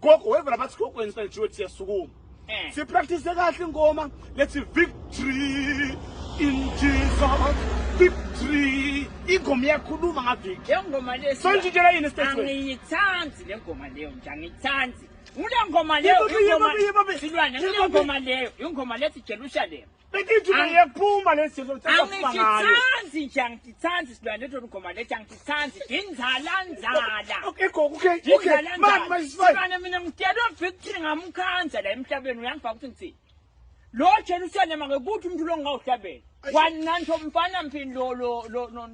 Gogo weva labathi gogo inside Jewett siyasukuma. Eh. Si practice kahle ingoma let's victory in Jesus. Victory. Ingoma iyakhuluma ngaviki. Le ngoma le sonjitshela yini stage. Angiyithandi le ngoma leyo nje angiyithandi. Ule ngoma leyo ingoma silwane le ngoma leyo ingoma lethi Jerusalem. Bekithi Ang- uyaphuma lesi silo sithatha phuma ngayo. angititsanzi nje angititsanzi silwane lomgoma lethi angititsanzi ndinzala nzala Okay gogo okay okay. ndinzala Man my is fine. nzala mina ngidela victory ngamkhandla la emhlabeni uyangibhaka ukuthi ngithini lo jerusalema ngekuthi umuntu longawuhlabela Ayi. wananto mfana mphini lo lo lo no-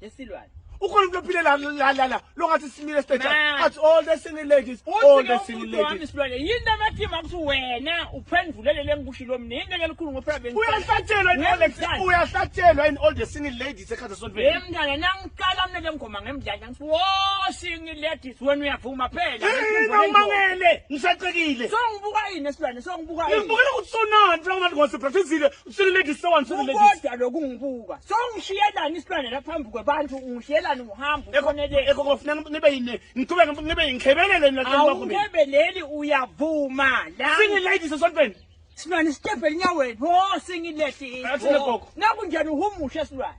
yesilwane ukhona umuntu ophile la la la la longathi simile stage athi all the single ladies all the single ladies silwane yini amathi makuthi wena uphendulele lengikushilo mina yini ngeke likhulu ngophela bengi uyahlatshelwa in all the uyahlatshelwa in all the single ladies ekhaza sonto hey mntana nangiqala mina lengoma ngemdlala ngithi wo single ladies wena uyavuma phela ngimangele ngisacekile so ngibuka yini esilwane so ngibuka yini ngibukela ukuthi sonani mfana ngase practice Sweet lady, so and sweet lady. Kodwa lokungibuka. So ngishiyelani isilwane la phambi kwebantu, ngishiyelani uhambo ukhonele. Eko kofuneka nibe yini? Ngiqhubeke ngibe ngikhebelela mina kanti bakho mina. Awukebeleli uyavuma la. Single ladies esontweni. Silwane step elinyaweni. Ho single ladies. Athi legogo. Nakunjani uhumushe silwane.